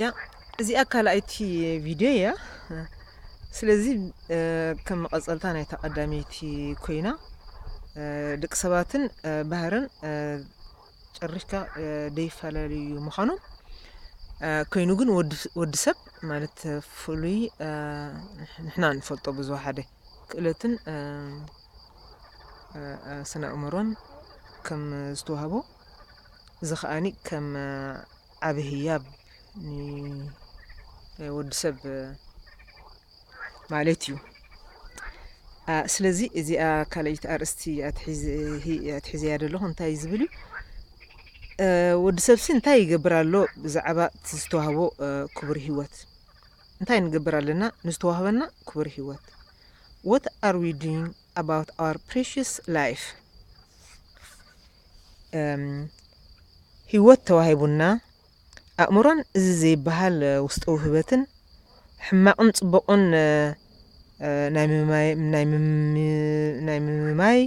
ያ እዚኣ ካልኣይቲ ቪድዮ እያ ስለዚ ከም መቐፀልታ ናይታ ቀዳመይቲ ኮይና ደቂ ሰባትን ባህርን ጨሪፍካ ደይፈላለዩ ምዃኖም ኮይኑ ግን ወዲ ሰብ ማለት ፍሉይ ንሕና ንፈልጦ ብዙሓደ ክእለትን ስነ ኣእምሮን ከም ዝተዋህቦ እዚ ከኣ ከም ዓቢ ህያብ ንወዲ ሰብ ማለት እዩ። ስለዚ እዚኣ ካልኣይቲ ኣርእስቲ ኣትሒዘያ ዘለኹ እንታይ ዝብል እዩ ወዲ ሰብሲ እንታይ ይገብር ኣሎ ብዛዕባ እቲ ዝተዋህቦ ክቡር ህይወት እንታይ ንገብር ኣለና ንዝተዋህበና ክቡር ህይወት ወት ኣር ዊ ዱይንግ ኣባውት ኣወር ፕሪሽስ ላይፍ ህይወት ተዋሂቡና ኣእምሮን እዚ ዘይበሃል ውስጠዊ ህበትን ሕማቕን ጽቡቕን ናይ ምምማይ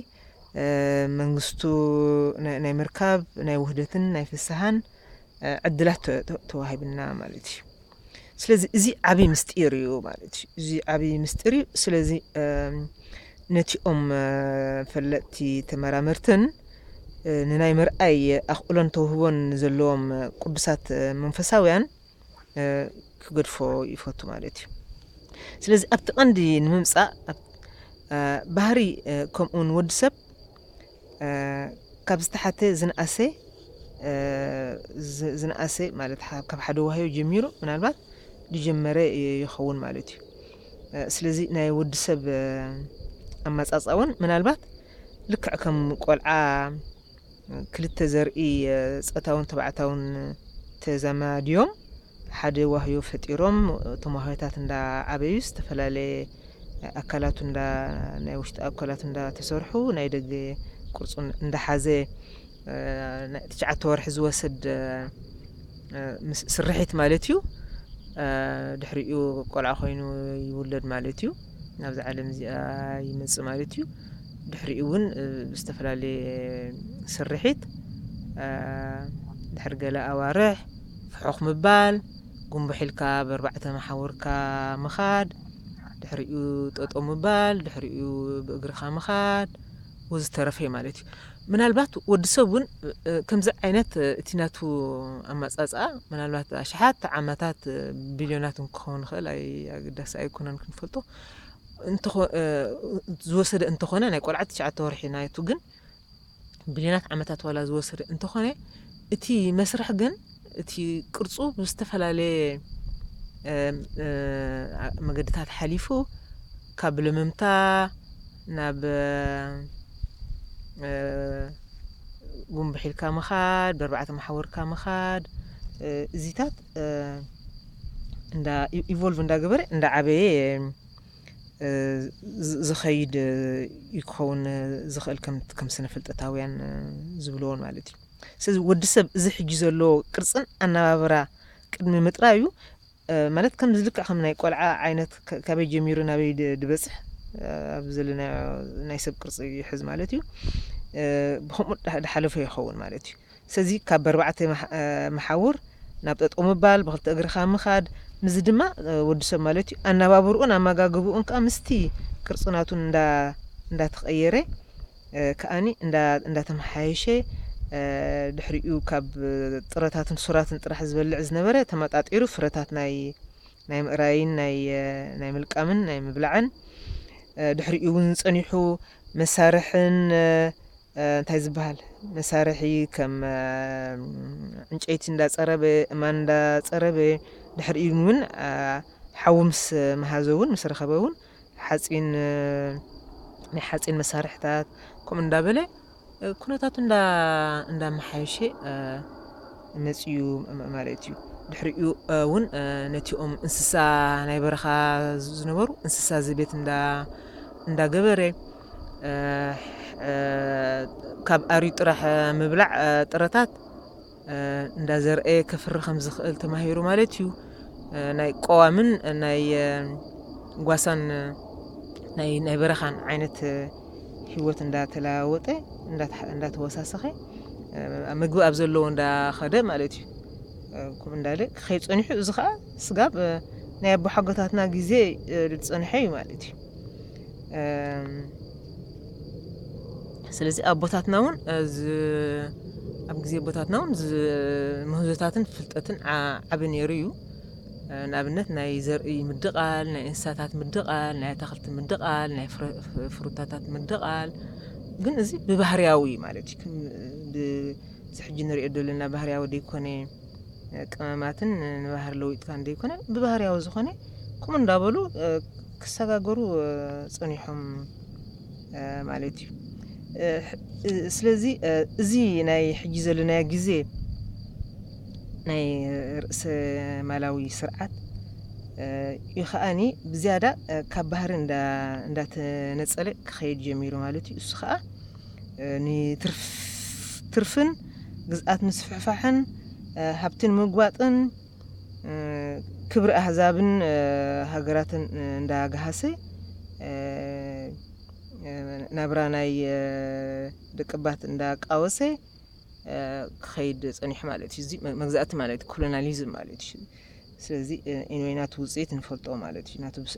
መንግስቱ ናይ ምርካብ ናይ ውህደትን ናይ ፍስሃን ዕድላት ተዋሂብና ማለት እዩ። ስለዚ እዚ ዓብዪ ምስጢር እዩ ማለት እዩ እዚ ዓብዪ ምስጢር እዩ ስለዚ ነቲኦም ፈለጥቲ ተመራመርትን ንናይ ምርኣይ ኣኽእሎን ተውህቦን ዘለዎም ቅዱሳት መንፈሳውያን ክገድፎ ይፈቱ ማለት እዩ ስለዚ ኣብቲ ቀንዲ ንምምፃእ ባህሪ ከምኡውን ወዲ ሰብ ካብ ዝተሓተ ዝንኣሰ ዝንኣሰ ማለት ካብ ሓደ ዋህዮ ጀሚሩ ምናልባት ዝጀመረ ይኸውን ማለት እዩ ስለዚ ናይ ወዲ ሰብ ኣመጻጽኣ እውን ምናልባት ልክዕ ከም ቆልዓ ክልተ ዘርኢ ጸታውን ተባዕታውን ተዘማድዮም ሓደ ዋህዮ ፈጢሮም እቶም ዋህዮታት እንዳ ዓበዩ ዝተፈላለየ ኣካላቱ እንዳ ናይ ውሽጢ ኣካላቱ እንዳ ተሰርሑ ናይ ደገ ቅርጹ እንዳ ሓዘ ናይ ትሽዓተ ወርሒ ዝወሰድ ስርሒት ማለት እዩ ድሕሪኡ ቆልዓ ኮይኑ ይውለድ ማለት እዩ ናብዚ ዓለም እዚኣ ይመጽእ ማለት እዩ ድሕሪኡ እውን ብዝተፈላለየ ስርሒት ድሕሪ ገለ ኣዋርሕ ፍሑኽ ምባል፣ ጉምቡሕ ኢልካ ብ ኣርባዕተ መሓውርካ ምኻድ፣ ድሕሪኡ ጠጠው ምባል፣ ድሕሪኡ ብ እግርኻ ምኻድ ወዝተረፈ ማለት እዩ። ምናልባት ወዲ ሰብ እውን ከምዚ ዓይነት እቲ ናቱ ኣማጻጽኣ ምናልባት ኣሽሓት ዓመታት ቢልዮናት እውን ክኸውን ይኽእል ኣይ ኣገዳሲ ኣይኮነን ክንፈልጦ እንተ ዝወሰደ እንተኾነ ናይ ቆልዓ ትሽዓተ ወርሒ ናቱ ግን ብልዮናት ዓመታት ዋላ ዝወሰደ እንተኾነ እቲ መስርሕ ግን እቲ ቅርጹ ብዝተፈላለየ መገድታት ሓሊፉ ካብ ልምምታ ናብ ጉንብሕ ኢልካ ምኻድ በርባዕተ መሓውርካ ምኻድ እዚታት እንዳ ኢቮልቭ እንዳገበረ እንዳዓበየ ዝኸይድ እዩ ክኸውን ዝኽእል ከም ስነ ፍልጠታውያን ዝብልዎን ማለት እዩ ስለዚ ወዲ ሰብ እዚ ሕጂ ዘለዎ ቅርፅን ኣነባብራ ቅድሚ ምጥራዩ ማለት ከም ዝልክዕ ከም ናይ ቆልዓ ዓይነት ካበይ ጀሚሩ ናበይ ድበፅሕ ኣብ ዘለና ናይ ሰብ ቅርፂ ይሕዝ ማለት እዩ ብከምኡ ድሓለፈ ይኸውን ማለት እዩ ሰዚ ካብ በርባዕተ መሓውር ናብ ጠጠው ምባል፣ ብክልተ እግርኻ ምኻድ፣ ምስዚ ድማ ወዲ ሰብ ማለት እዩ ኣናባብርኡን ኣማጋግብኡን ከኣ ምስቲ ቅርጺ ናቱ እንዳ እንዳ ተቀየረ ከኣኒ እንዳ እንዳ ተመሓየሸ ድሕሪኡ ካብ ጥረታትን ሱራትን ጥራሕ ዝበልዕ ዝነበረ ተመጣጢሩ ፍረታት ናይ ናይ ምእራይን ናይ ናይ ምልቃምን ናይ ምብላዕን ድሕሪኡ እውን ጸኒሑ መሳርሕን እንታይ ዝበሃል መሳርሒ ከም ዕንጨይቲ እንዳፀረበ እማን እንዳፀረበ ድሕሪኡ እውን ሓዊ ምስ መሃዘ እውን ምስ ረኸበ እውን ሓፂን ናይ ሓፂን መሳርሕታት ከምኡ እንዳበለ ኩነታቱ እንዳ እንዳመሓየሸ መጺኡ ማለት እዩ። ድሕሪኡ እውን ነቲኦም እንስሳ ናይ በረኻ ዝነበሩ እንስሳ ዘቤት እንዳ እንዳገበረ ካብ ኣርዩ ጥራሕ ምብላዕ ጥረታት እንዳ ዘርኣየ ከፍሪ ከም ዝኽእል ተማሂሩ ማለት እዩ ናይ ቆዋምን ናይ ጓሳን ናይ ናይ በረኻን ዓይነት ህይወት እንዳተለዋወጠ እንዳተወሳሰኸ ምግቢ ኣብ ዘለዎ እንዳኸደ ማለት እዩ ከምኡ እንዳለ ክኸይድ ፀኒሑ እዚ ከዓ ስጋብ ናይ ኣቦሓጎታትና ግዜ ዝፀንሐ እዩ ማለት እዩ ስለዚ ኣቦታትና እውን ኣብ ግዜ ኣቦታትና እውን ምህዞታትን ፍልጠትን ዓቢ ነይሩ እዩ ንኣብነት ናይ ዘርኢ ምድቓል ናይ እንስሳታት ምድቓል ናይ ኣታክልቲ ምድቓል ናይ ፍሩታታት ምድቓል ግን እዚ ብባህርያዊ ማለት እዩ ዝሕጂ ንሪኦ ዘለና ባህርያዊ ዘይኮነ ቅመማትን ንባህሪ ለዊጥካን ዘይኮነ ብባህርያዊ ዝኾነ ከምኡ እንዳበሉ ክሰጋገሩ ፀኒሖም ማለት እዩ ስለዚ እዚ ናይ ሕጂ ዘለናዮ ግዜ ናይ ርእሰ ማላዊ ስርዓት እዩ ከዓኒ ብዝያዳ ካብ ባህሪ እንዳተነፀለ ክኸይድ ጀሚሩ ማለት እዩ እሱ ከዓ ንትርፍን ግዝኣት ምስፍሕፋሕን ሃብቲ ንምጉባጥን ክብሪ ኣህዛብን ሃገራትን እንዳገሃሰ ናብራ ናይ ደቅባት እንዳቃወሰ ክኸይድ ፀኒሑ ማለት እዩ። እዚ መግዛእቲ ማለት እዩ፣ ኮሎናሊዝም ማለት እዩ። ስለዚ ኢንወይ ናቱ ውፅኢት ንፈልጦ ማለት እዩ፣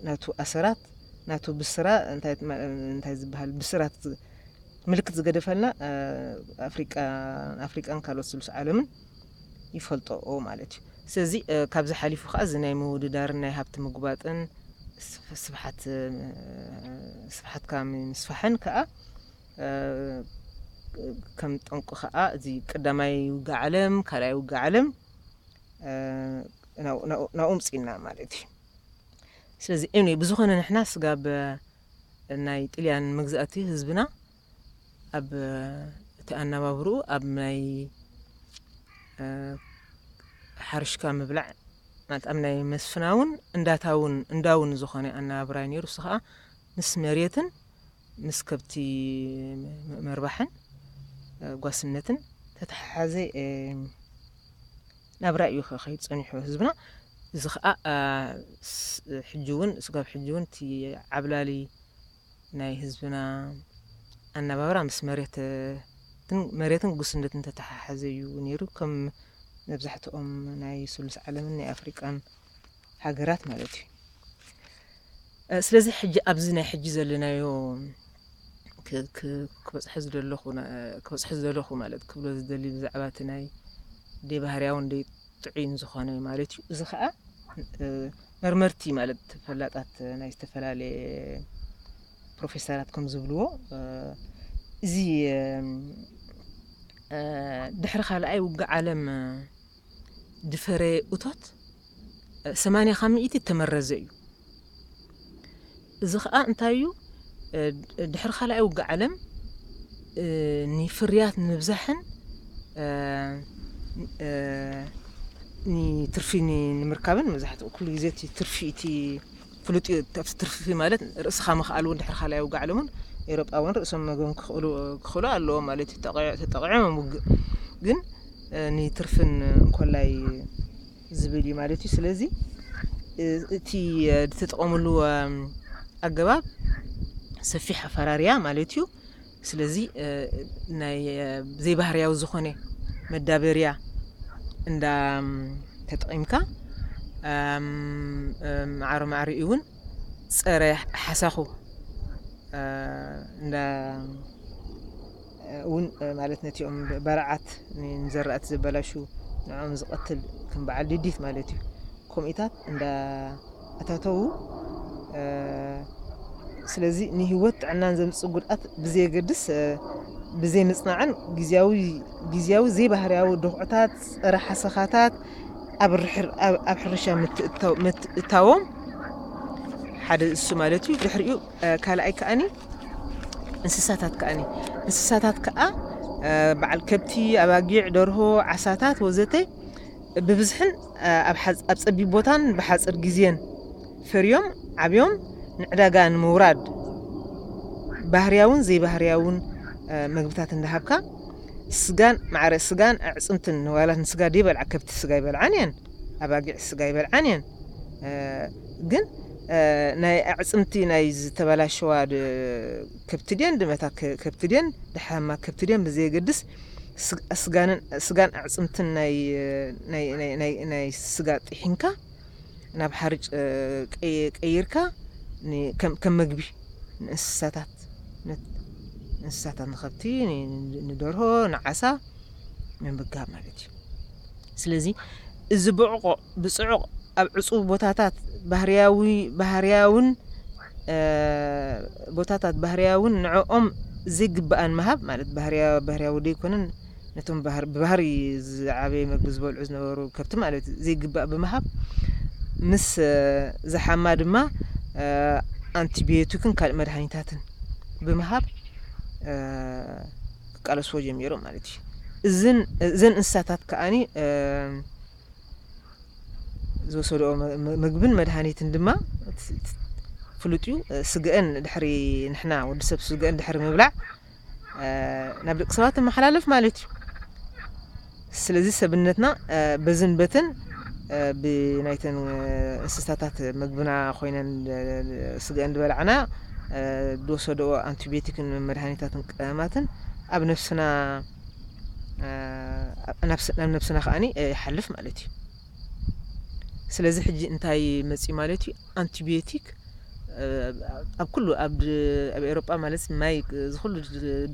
ናቱ ኣሰራት ምልክት ናቱ ብስራ እንታይ ዝበሃል ብስራት ምልክት ዝገደፈልና ኣፍሪቃን ካልኦት ስሉስ ዓለምን ይፈልጦኦ ማለት እዩ። ስለዚ ካብዚ ሓሊፉ ከዓ እዚ ናይ ምውድዳርን ናይ ሃብቲ ምጉባጥን ስፍሓት ስፍሓትካ ምስፋሕን ከዓ ከም ጠንቁ ከዓ እዚ ቀዳማይ ውግእ ዓለም ካልኣይ ውግእ ዓለም ናብኡ ምፂና ማለት እዩ። ስለዚ ኤንወይ ብዝኾነ ንሕና ስጋብ ናይ ጥልያን መግዛእቲ ህዝብና ኣብ እቲ ኣነባብርኡ ኣብ ናይ ሓርሽካ ምብላዕ ማለት ኣብ ናይ መስፍናውን እንዳታውን እንዳውን ዝኾነ ኣነባብራ እዩ ነይሩ። እሱ ከዓ ምስ መሬትን ምስ ከብቲ መርባሕን ጓስነትን ተተሓሓዘ ናብራ እዩ ከ ከይድ ጸኒሑ ህዝብና እዚ ከኣ ሕጂ ውን ስጋብ ሕጂ ውን እቲ ዓብላሊ ናይ ህዝብና ኣናባብራ ምስ መሬት ግን መሬትን ጉስነትን ተተሓሓዘ እዩ ነይሩ ከም መብዛሕትኦም ናይ ስሉስ ዓለምን ናይ ኣፍሪቃን ሃገራት ማለት እዩ። ስለዚ ሕጂ ኣብዚ ናይ ሕጂ ዘለናዮ ክበጽሐ ዝደለኹ ክበጽሐ ዝደለኹ ማለት ክብሎ ዝደሊ ብዛዕባ እቲ ናይ ደይ ባህርያውን ደይ ጥዑይን ዝኾነ ማለት እዩ። እዚ ከዓ መርመርቲ ማለት ፈላጣት ናይ ዝተፈላለየ ፕሮፌሰራት ከም ዝብልዎ እዚ ድሕሪ ካልኣይ ውግእ ዓለም ዝፈረየ እቶት ሰማንያ ካብ ሚእቲ እተመረዘ እዩ። እዚ ከኣ እንታይ እዩ ድሕሪ ካልኣይ ውግእ ዓለም ንፍርያት ንምብዛሕን ትርፊ ንምርካብን መብዛሕትኡ ኩሉ ግዜ እቲ ትርፊ እቲ ፍሉጥ እዩ ኣብቲ ትርፍፊ ማለት ርእስኻ ምኽኣል እውን ድሕሪ ካልኣይ ውግእ ዓለም እውን ኤውሮጳውያን ርእሶም መግቦም ክኽእሉ ክኽእሉ ኣለዎም ማለት እዩ ተጠቂዖ- ተጠቂዖም ውግእ ግን እ፣ ንትርፍን እንኮላይ ዝብል እዩ ማለት እዩ ስለዚ እ፣ እቲ እ፣ ዝተጠቐምሉ እ፣ ኣገባብ ሰፊሕ ኣፈራርያ ማለት እዩ ስለዚ ናይ ዘይባህርያዊ ዝኾነ መዳበርያ እንዳ ተጠቒምካ ማዕረ ማዕሪኡ እውን ፀረ ሓሳኹ እንዳ እውን ማለት ነቲኦም በረዓት ንዘራእቲ ዘበላሹ ንዕኦም ዝቐትል ከም በዓል ድዲት ማለት እዩ ኮሚኢታት እንዳ ኣታተዉ ስለዚ ንሂወት ጥዕናን ዘምጽእ ጉድኣት ብዘየገድስ ብዘይ ምጽናዕን ግዝያዊ ግዝያዊ ዘይባህርያዊ ዶኽዕታት ጸረ ሓሰኻታት ኣብ ርሕር ኣብ ኣብ ሕርሻ ምትእታው ምትእታዎም ሓደ እሱ ማለት እዩ ድሕሪኡ ካልኣይ ከኣኒ እንስሳታት ከኣኒ እንስሳታት ከኣ በዓል ከብቲ ኣባጊዕ ደርሆ ዓሳታት ወዘተ ብብዝሕን ኣብ ጸቢብ ቦታን ብሓጽር ግዜን ፈርዮም ዓብዮም ንዕዳጋ ንምውራድ ባህርያውን ዘይባህርያውን መግብታት እንዳሃብካ ስጋን ማዕረ ስጋን ኣዕጽምትን ንዋላ ንስጋ ደይበልዓ ከብቲ ስጋ ኣይበልዓን እየን ኣባጊዕ ስጋ ኣይበልዓን እየን ግን ናይ ኣዕጽምቲ ናይ ዝተበላሸዋ ከብቲ ድየን ድመታ ከብቲ ድየን ደሓማ ከብቲ ድየን ብዘየገድስ ስጋን ኣዕፅምትን ናይ ስጋ ጢሒንካ ናብ ሓርጭ ቀይርካ ከም መግቢ ንእንስሳታት እንስሳታት ንኸብቲ ንደርሆ ንዓሳ ምምጋብ ማለት እዩ ስለዚ እዚ ብዕቆ ብጽዑቕ ኣብ ዕጹው ቦታታት ባህርያዊ ባህርያውን ቦታታት ባህርያውን ንዕኦም ዘይግብኣን ምሃብ ማለት ባህርያ ባህርያዊ ዘይኮነን ነቶም ባህር ብባህሪ ዝዓበየ መግቢ ዝበልዑ ዝነበሩ ከብቲ ማለት እዩ ዘይግባእ ብምሃብ ምስ ዝሓማ ድማ ኣንቲቢዮቲክን ካልእ መድሃኒታትን ብምሃብ ክቃለስዎ ጀሚሮም ማለት እዩ እዝን እዘን እንስሳታት ከኣኒ ዝወሰድኦ ምግብን መድሃኒትን ድማ ፍሉጥ እዩ። ስገኣን ድሕሪ ንሕና ወዲ ሰብ ስገኣን ድሕሪ ምብላዕ ናብ ደቂ ሰባት ይመሓላለፍ ማለት እዩ። ስለዚ ሰብነትና በዝን በትን ብናይተን እንስሳታት ምግብና ኮይነን ስገኣን ዝበላዕና ዝወሰድኦ ኣንቲቤቲክን መድሃኒታትን ቀመማትን ኣብ ነፍስና ናብ ነብስና ከኣ ይሓልፍ ማለት እዩ ስለዚ ሕጂ እንታይ መፅዩ ማለት እዩ ኣንቲቢዮቲክ ኣብ ኩሉ ኣብ ኤሮጳ ማለት ማይ ዝኩሉ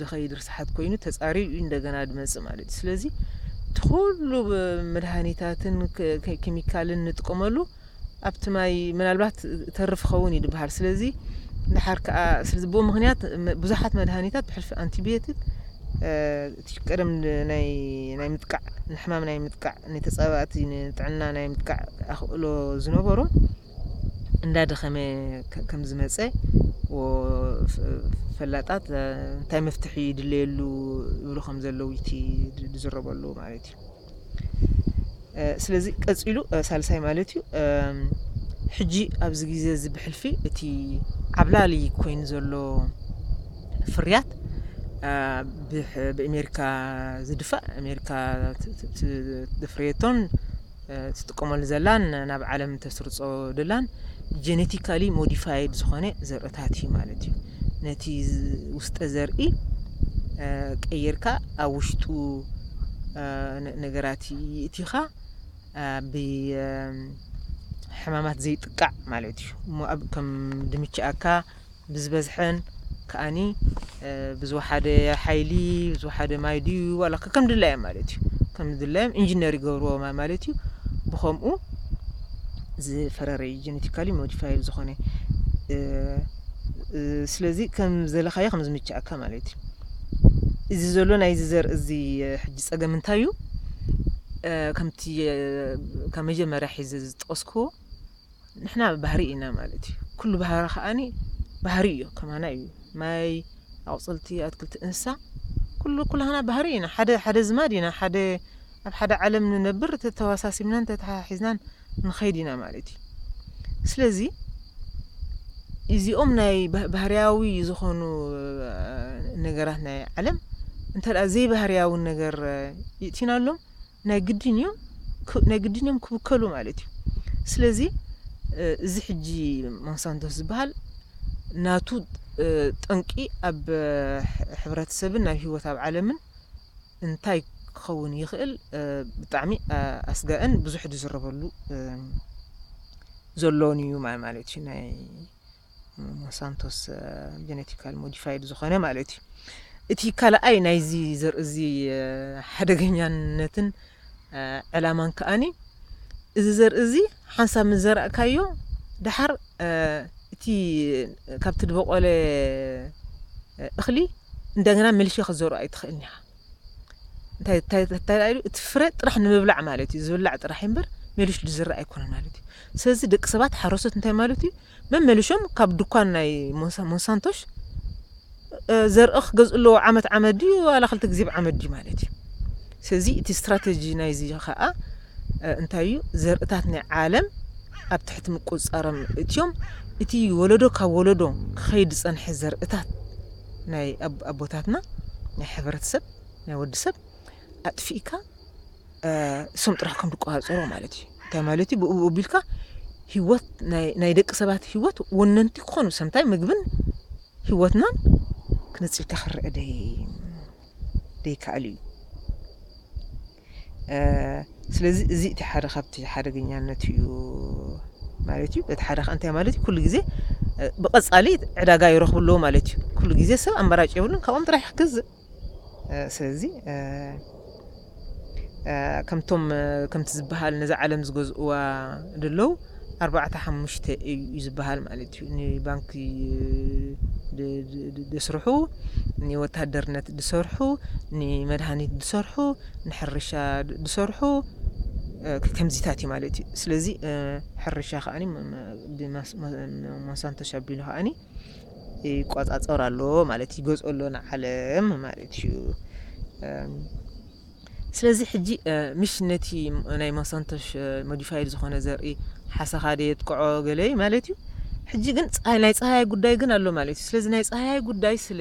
ድኸይድ ርስሓት ኮይኑ ተፃርዩ እዩ እንደገና ድመፅእ ማለት እዩ ስለዚ እቲ ኩሉ መድሃኒታትን ኬሚካልን ንጥቀመሉ ኣብቲ ማይ ምናልባት ተርፍ ይኸውን እዩ ድበሃል ስለዚ ንሓር ከዓ ስለዚ ብኡ ምክንያት ብዙሓት መድሃኒታት ብሕልፊ ኣንቲቢዮቲክ እቲ ቀደም ናይ ምጥቃዕ ንሕማም ናይ ምጥቃዕ ንተፃባእቲ ንጥዕና ናይ ምጥቃዕ ኣኽእሎ ዝነበሮም እንዳደኸመ ከም ዝመፀ ፈላጣት እንታይ መፍትሒ ይድለየሉ ይብሉ ከም ዘለዉ እቲ ዝዝረበሉ ማለት እዩ ስለዚ ቀፂሉ ሳልሳይ ማለት እዩ ሕጂ ኣብዚ ግዜ እዚ ብሕልፊ እቲ ዓብላሊ ኮይኑ ዘሎ ፍርያት ብኣሜሪካ ዝድፋእ ኣሜሪካ ትፍርየቶን ትጥቀመሉ ዘላን ናብ ዓለም ተስርፆ ደላን ጀነቲካሊ ሞዲፋይድ ዝኾነ ዘርእታት እዩ ማለት እዩ። ነቲ ውስጠ ዘርኢ ቀይርካ ኣብ ውሽጡ ነገራት ይእቲኻ ብሕማማት ዘይጥቃዕ ማለት እዩ እሞ ኣብ ከም ድምችኣካ ብዝበዝሐን ከዓኒ ብዝወሓደ ሓይሊ ዝወሓደ ማይ ድዩ ዋላ ከም ድላዮም ማለት እዩ ከም ድላዮም ኢንጂነር ይገብርዎ ማለት እዩ ብከምኡ ዝፈረረ ጀነቲካሊ ሞዲፋይድ ዝኾነ ስለዚ ከም ዘለካዮ ከም ዝምቸኣካ ማለት እዩ እዚ ዘሎ ናይዚ ዘርኢ እዚ ሕጂ ጸገም እንታይ እዩ ከምቲ ካብ መጀመርያ ሒዘ ዝጠቀስክዎ ንሕና ባህሪ ኢና ማለት እዩ ኩሉ ባህሪ ከዓኒ ባህሪ እዩ ከማና እዩ ማይ ኣቁጽልቲ ኣትክልቲ እንስሳ ኩሉ ኩላህና ባህሪ ኢና ሓደ ሓደ ዝማድ ኢና ሓደ ኣብ ሓደ ዓለም ንነብር ተተዋሳሲብናን ተታሓሒዝናን ንኸይድ ኢና ማለት እዩ ስለዚ ኢዚኦም ናይ ባህርያዊ ዝኾኑ ነገራት ናይ ዓለም እንተ ዘይባህርያዊ ነገር ይእቲናሎም ናይ ግድን እዩ ናይ ግድን እዮም ክብከሉ ማለት እዩ ስለዚ እዚ ሕጂ ሞንሳንቶስ ዝበሃል ናቱ ጠንቂ ኣብ ሕብረተሰብን ናብ ሂወት ኣብ ዓለምን እንታይ ክኸውን ይኽእል ብጣዕሚ ኣስጋእን ብዙሕ ዝዝረበሉ ዘሎን እዩ ማለት እዩ ናይ ሞንሳንቶስ ጀነቲካል ሞዲፋይድ ዝኾነ ማለት እዩ እቲ ካልኣይ ናይዚ ዘርኢ እዚ ሓደገኛነትን ዕላማን ከኣኒ እዚ ዘርኢ እዚ ሓንሳብ ምስ ዘራእካዮ ደሓር እቲ ካብቲ ድበቆለ እኽሊ እንደገና መልሼ ክትዘርኦ ኣይትኽእልን ኢኻ። እንታይ እንታይ እንታይ ደኣ ኢሉ እቲ ፍረ ጥራሕ ንምብላዕ ማለት እዩ ዝብላዕ ጥራሕ እምበር ሜሊሹ ዝዝራእ ኣይኮነን ማለት እዩ። ስለዚ ደቂ ሰባት ሓረስቶት እንታይ ማለት እዩ መመሊሾም ካብ ዱኳን ናይ ሞንሳንቶሽ ዘርኢ ክገዝኡ ኣለዎ ዓመት ዓመት ድዩ ዋላ ክልተ ግዜ ብዓመት ድዩ ማለት እዩ ስለዚ እቲ ስትራተጂ ናይዚ ከዓ እንታይ እዩ ዘርእታት ናይ ዓለም ኣብ ትሕቲ ምቁፅፃሮም እትዮም እቲ ወለዶ ካብ ወለዶ ክኸይድ ዝፀንሐ ዘርእታት ናይ ኣቦታትና ናይ ሕብረተሰብ ናይ ወዲ ሰብ ኣጥፊእካ እሶም ጥራሕ ከም ዝቆፃፀሩ ማለት እዩ እንታይ ማለት እዩ ብኡ ኣቢልካ ህይወት ናይ ደቂ ሰባት ህይወት ወነንቲ ክኾኑ ሰምታይ ምግብን ህይወትናን ክነፅልካ ክረአ ደይከኣል እዩ ስለዚ እዚ እቲ ሓደ ካብቲ ሓደገኛነት እዩ ማለት እዩ በቲ ሓደ ከ እንታይ ማለት እዩ ኩሉ ግዜ ብቐፃሊ ዕዳጋ ይረኽቡ ኣለዎ ማለት እዩ ኩሉ ግዜ ሰብ ኣማራጭ የብሉን ካብኦም ጥራሕ ክገዝእ ስለዚ ከምቶም ከምቲ ዝበሃል ነዛ ዓለም ዝገዝእዋ ደለዉ ኣርባዕተ ሓሙሽተ እዩ ዝበሃል ማለት እዩ ንባንኪ ድስርሑ ንወታደርነት ድሰርሑ ንመድሃኒት ድሰርሑ ንሕርሻ ድሰርሑ ከምዚታት እዩ ማለት እዩ ስለዚ ሕርሻ ከኣኒ ብሞንሳንቶ ሸቢሎ ከኣኒ ይቆፃፀር ኣሎ ማለት እዩ ገፁ ኣሎ ንዓለም ማለት እዩ ስለዚ ሕጂ ምሽ ነቲ ናይ ሞሳንቶሽ ሞዲፋይድ ዝኾነ ዘርኢ ሓሰኻ ደ የጥቅዖ ገለ ማለት እዩ ሕጂ ግን ናይ ፀሃያይ ጉዳይ ግን ኣሎ ማለት እዩ ስለዚ ናይ ፀሃያይ ጉዳይ ስለ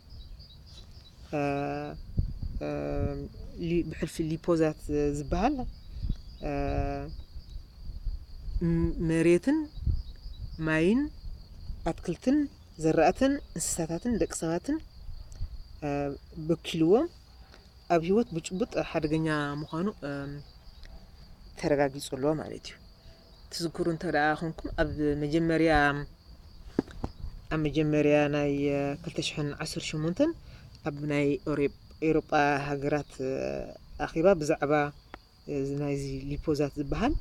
ብሕልፊ ሊፖዛት ዝበሃል መሬትን ማይን ኣትክልትን ዘራእትን እንስሳታትን ደቂ ሰባትን በኪልዎ ኣብ ሂወት ብጭቡጥ ሓደገኛ ምዃኑ ተረጋጊፁ ኣሎ ማለት እዩ። ትዝክሩ እንተደኣ ኮንኩም ኣብ መጀመርያ ኣብ መጀመርያ ናይ ክልተ ሽሕን ዓሰርተ ሸሞንተን ኣብ ናይ ኤውሮጳ ሃገራት ኣኼባ ብዛዕባ ናይዚ ሊፖዛት ዝበሃል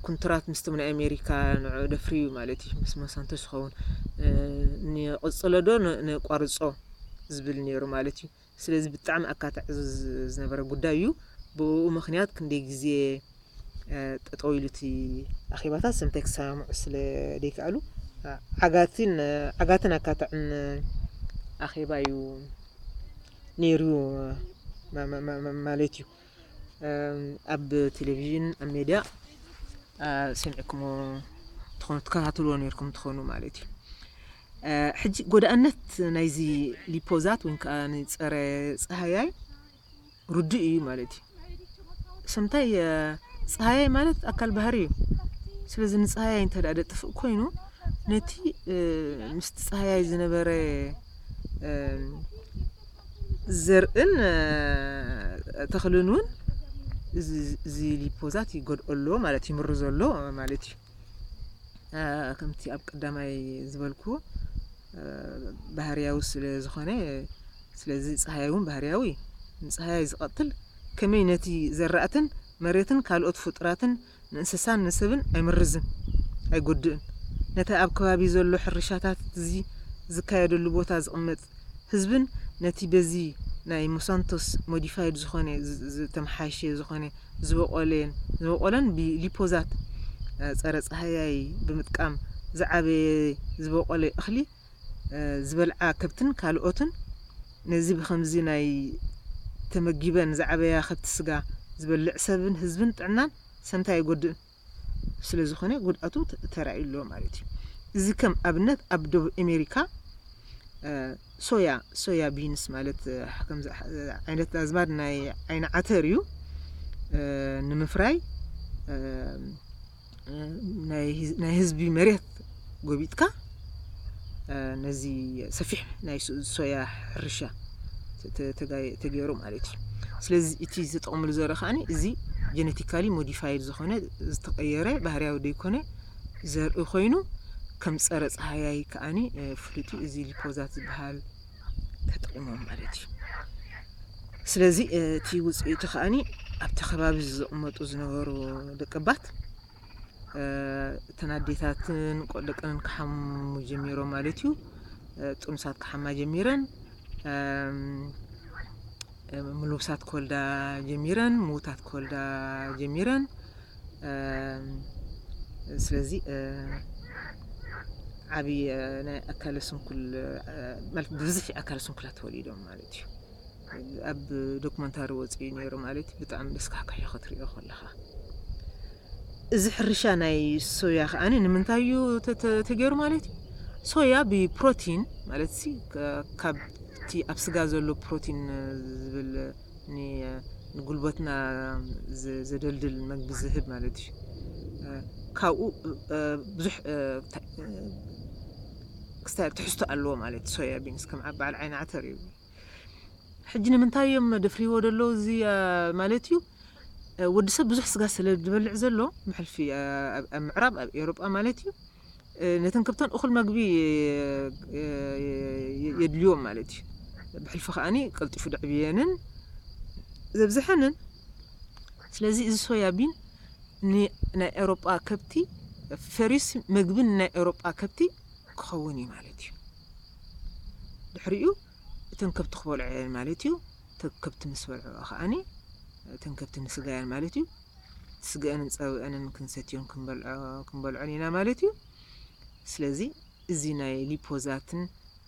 ኩንትራት ምስቶም ናይ ኣሜሪካ ንዕኡ ደፍርዩ ማለት እዩ ምስ ሞሳንቶስ ዝኸውን ንቕጽሎ ዶ ነቋርጾ ዝብል ነይሩ ማለት እዩ ስለዚ ብጣዕሚ ኣካታዒ ዝነበረ ጉዳይ እዩ። ብእኡ ምኽንያት ክንደይ ግዜ ጠጠው ኢሉ እቲ ኣኼባታት ስምንታይ ክሰማምዑ ስለ ዘይከኣሉ ዓጋቲን ዓጋትን ኣካታዕን ኣኼባ እዩ ነይሩ ማለት እዩ። ኣብ ቴሌቪዥን ኣብ ሜድያ ሰሚዕኩሞ ትኾኑ ትከታተልዎ ነይርኩም ትኾኑ ማለት እዩ። ሕጂ ጎዳእነት ናይዚ ሊፖዛት ወይ ከኣ ንጸረ ጸሃያይ ርዱእ እዩ ማለት እዩ። ሰምታይ ጸሃያይ ማለት ኣካል ባህሪ እዩ። ስለዚ ንጸሃያይ እንተ ደጥፍእ ኮይኑ ነቲ ምስቲ ጸሃያይ ዝነበረ ዘርእን ተኽልን እውን እዚ ሊፖዛት ይጎድኦ ኣሎ ማለት ይምርዞ ኣሎ ማለት እዩ። ከምቲ ኣብ ቀዳማይ ዝበልክዎ ባህርያዊ ስለ ዝኾነ ስለዚ ፀሃይ እውን ባህርያዊ እዩ ንፀሃይ ዝቐትል ከመይ ነቲ ዘራእትን መሬትን ካልኦት ፍጡራትን ንእንስሳን ንሰብን ኣይምርዝን ኣይጎድእን ነቲ ኣብ ከባቢ ዘሎ ሕርሻታት እዚ ዝካየደሉ ቦታ ዝቕመጥ ህዝብን ነቲ በዚ ናይ ሞሳንቶስ ሞዲፋይድ ዝኾነ ዝተመሓየሸ ዝኾነ ዝበቖለን ዝበቖለን ብሊፖዛት ፀረ ፃህያይ ብምጥቃም ዝዓበየ ዝበቖለ እኽሊ ዝበልዓ ከብትን ካልኦትን ነዚ ብኸምዚ ናይ ተመጊበን ዝዓበያ ከብቲ ስጋ ዝበልዕ ሰብን ህዝብን ጥዕናን ሰምታ ኣይጎድእን። ስለዝኾነ ጉድኣቱ ተራእዩ ኣሎ ማለት እዩ። እዚ ከም ኣብነት ኣብ ደቡብ ኣሜሪካ ሶያ ሶያ ቢንስ ማለት ከምዚ ዓይነት ኣዝማድ ናይ ዓይኒ ዓተር እዩ ንምፍራይ ናይ ህዝቢ መሬት ጎቢጥካ ነዚ ሰፊሕ ናይ ሶያ ሕርሻ ተገይሩ ማለት እዩ ስለዚ እቲ ዝጠቕምሉ ዘርኢ ከዓኒ እዚ ጀነቲካሊ ሞዲፋይድ ዝኾነ ዝተቐየረ ባህርያዊ ዘይኮነ ዘርኢ ኮይኑ ከም ፀረ ፀሃያይ ከዓኒ ፍሉጥ እዩ እዚ ሊፖዛት ዝበሃል ተጠቂሞም ማለት እዩ ስለዚ እቲ ውፅኢቱ ከዓኒ ኣብቲ ከባቢ ዘቕመጡ ዝነበሩ ደቀባት እተን ኣዴታትን ደቀንን ክሓሙ ጀሚሮም ማለት እዩ። ጥኑሳት ክሓማ ጀሚረን ምልውሳት ክወልዳ ጀሚረን ምውታት ክወልዳ ጀሚረን። ስለዚ ዓብዪ ናይ ኣካለ ስንኩል ማለት ብብዝሒ ኣካለ ስንኩላት ተወሊዶም ማለት እዩ። ኣብ ዶክመንታሪ ወጽኡ እዩ ነይሩ ማለት ብጣዕሚ ደስካሕካሕ እዩ ክትሪኦ ከለኻ እዚ ሕርሻ ናይ ሶያ ከዓ ንምንታይ እዩ ተገይሩ ማለት እዩ ሶያ ብፕሮቲን ማለት ሲ ካብቲ ኣብ ስጋ ዘሎ ፕሮቲን ዝብል ንጉልበትና ዘደልድል መግቢ ዝህብ ማለት እዩ ካብኡ ብዙሕ ክስታይ ትሕዝቶ ኣለዎ ማለት እዩ ሶያ ቢንስ ከም በዓል ዓይኒ ዓተር እዩ ሕጂ ንምንታይ እዮም ደፍሪዎ ደሎ እዚ ማለት እዩ ወዲ ሰብ ብዙሕ ስጋ ስለ ዝበልዕ ዘሎ መሕልፊ ኣብ ምዕራብ ኣብ ኤውሮጳ ማለት እዩ ነተን ከብተን እኹል መግቢ የድልዮም ማለት እዩ ብሕልፊ ከዓኒ ቀልጢፉ ደዕብየንን ዘብዝሐንን ስለዚ እዚ ሶያ ቢን ንናይ ኤውሮጳ ከብቲ ፈሪስ መግቢ ንናይ ኤውሮጳ ከብቲ ክኸውን እዩ ማለት እዩ። ድሕሪኡ እተን ከብቲ ክበልዖ እየን ማለት እዩ። እተን ከብቲ ምስ በልዕኦ ከኣኒ እተን ከብቲ ንስጋ እየን ማለት እዩ። ስግአንን ጸብአንን ክንሰትዮን ክንበልዖን ኢና ማለት እዩ። ስለዚ እዚ ናይ ሊፖዛትን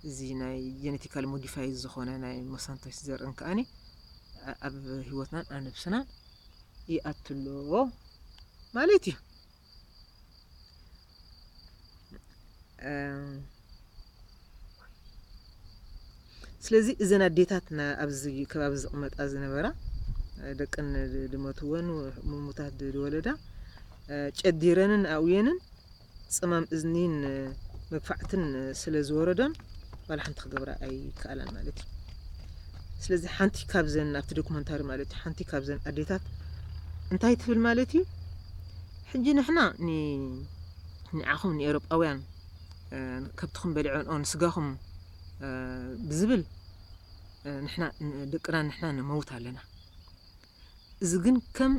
እዚ ናይ ጀነቲካል ሞዲፋይ ዝኾነ ናይ ሞሳንቶስ ዘርእን ከኣኒ ኣብ ህይወትናን ኣብ ነብስናን ይኣቱ ኣሎ ማለት እዩ ስለዚ እዘን ኣዴታት ኣብዚ ከባቢ ዝቕመጣ ዝነበራ ደቅን ድመትወን ምሙታት ዝወለዳ ጨዲረንን ኣውየንን ጸማም እዝኒን መግፋዕትን ስለ ዝወረዶን ዋላ ሓንቲ ክገብራ ኣይከኣላን ማለት እዩ ስለዚ ሓንቲ ካብዘን ኣብቲ ዶክመንታሪ ማለት እዩ ሓንቲ ካብዘን ኣዴታት እንታይ ትብል ማለት እዩ ሕጂ ንሕና ንዓኹም ንኤሮጳውያን ከብትኹም በሊዖንኦ ንስጋኹም ብዝብል ንሕና ደቅና ንሕና ንመውት ኣለና እዚ ግን ከም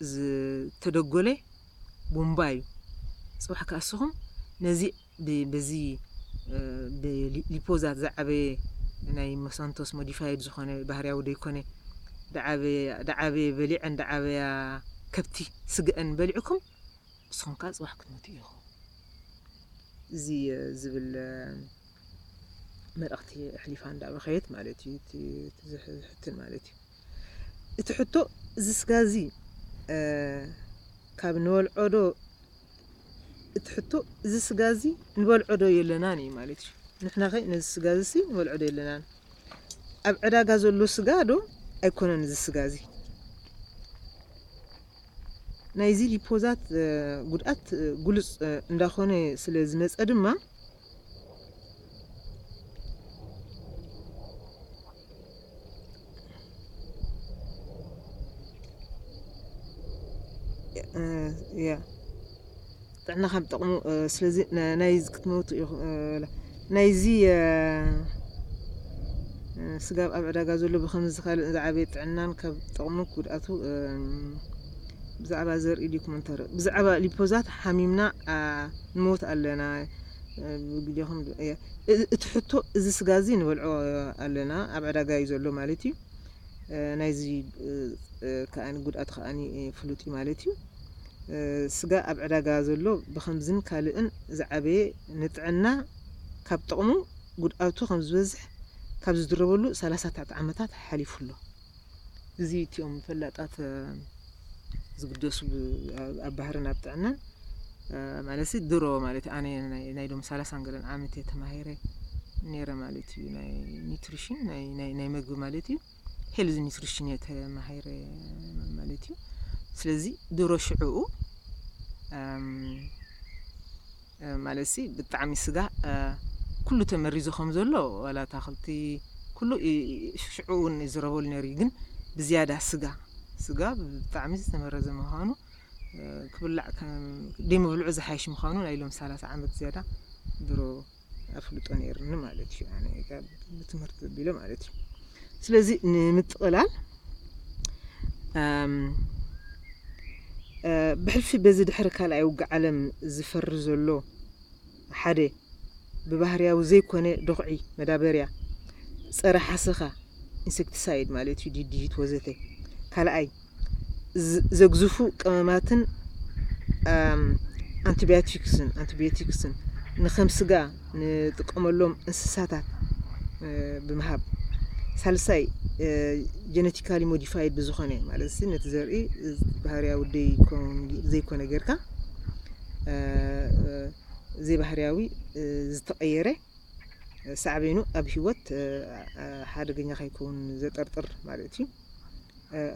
ዝተደጎለ ቡምባ እዩ ጽባሕ ከኣ እስኹም ነዚ በዚ ብሊፖዛት ዝዓበየ ናይ ሞሳንቶስ ሞዲፋይድ ዝኾነ ባህርያዊ ደይኮነ ድዓበየ በሊዐን ድዓበያ ከብቲ ስግኣን በሊዕኩም እስኹም ከኣ ጽባሕ ክትሞቱ ኢኹም እዚ ዝብል መልእኽቲ ኣሕሊፋ እንዳበኸየት ማለት እዩ እቲ ዝሕትን ማለት እዩ እቲ ሕቶ እዚ ስጋ እዚ ካብ ንበልዖ ዶ እቲ ሕቶ እዚ ስጋ እዚ ንበልዖ ዶ የለናን እዩ ማለት እዩ ንሕና ከ ነዚ ስጋ እዚ ሲ ንበልዖ ዶ የለናን ኣብ ዕዳጋ ዘሎ ስጋ ዶ ኣይኮነን እዚ ስጋ እዚ ናይዚ ሊፖዛት ጉድኣት ጉሉፅ እንዳኾነ ስለ ዝመፀ ድማ ጥዕና ካብ ጥቕሙ ስለዚ ናይ ክትመውቱ ናይዚ ስጋብ ኣብ ዕዳጋ ዘሎ ብከምዚ ካልእ ዝዓበየ ጥዕናን ካብ ጥቕሙ ጉድኣቱ ብዛዕባ ዘርኢ ዲኩመንተሪ ብዛዕባ ሊፖዛት ሓሚምና ንሞት ኣለና ብግዴኹም እቲ ሕቶ እዚ ስጋ እዚ ንበልዖ ኣለና ኣብ ዕዳጋ እዩ ዘሎ ማለት እዩ ናይዚ ከዓኒ ጉድኣት ከዓኒ ፍሉጥ እዩ ማለት እዩ ስጋ ኣብ ዕዳጋ ዘሎ ብከምዝን ካልእን ዝዓበየ ንጥዕና ካብ ጥቕሙ ጉድኣቱ ከምዝበዝሕ ካብ ዝድረበሉ ሰላሳ ትሕቲ ዓመታት ሓሊፉ ኣሎ እዚ እቲኦም ፈላጣት ዝግደሱ ኣብ ባህርን ኣብ ጥዕናን ማለት ሲ ድሮ ማለት ኣነ ናይ ዶም ሰላሳን ገለን ዓመት እየ ተማሂረ ነይረ ማለት እዩ ናይ ኒትሪሽን ናይ መግቢ ማለት እዩ ሄልዝ ኒትሪሽን እየ ተማሂረ ማለት እዩ ስለዚ ድሮ ሽዕኡ ማለትሲ ብጣዕሚ ስጋ ኩሉ ተመሪዙ ከም ዘሎ ዋላ ኣታኽልቲ ኩሉ ሽዑ ውን ይዝረበሉ ነይሩ እዩ ግን ብዝያዳ ስጋ ስጋ ብጣዕሚ ዝተመረዘ ምዃኑ ክብላዕ ደይምብልዑ ዝሓይሽ ምዃኑ ናይ ሎም ሰላሳ ዓመት ዝያዳ ድሮ ኣፍልጦ ነይርኒ ማለት እዩ ኣነ ብትምህርቲ ዘቢለ ማለት እዩ ስለዚ ንምጥቕላል ብሕልፊ በዚ ድሕሪ ካልኣይ ውግእ ዓለም ዝፈሪ ዘሎ ሓደ ብባህርያዊ ዘይኮነ ዶኽዒ መዳበርያ ጸረ ሓሰኻ ኢንሴክቲሳይድ ማለት እዩ ዲዲት ወዘተ ካልኣይ ዘግዝፉ ቀመማትን ኣንቲባዮቲክስን ኣንቲባዮቲክስን ንከም ስጋ ንጥቀመሎም እንስሳታት ብምሃብ ሳልሳይ ጀነቲካሊ ሞዲፋይድ ብዝኾነ ማለት ነቲ ዘርኢ ባህርያዊ ዘይኮነ ጌርካ ዘይባህርያዊ ዝተቐየረ ሳዕቤኑ ኣብ ህይወት ሓደገኛ ከይከውን ዘጠርጥር ማለት እዩ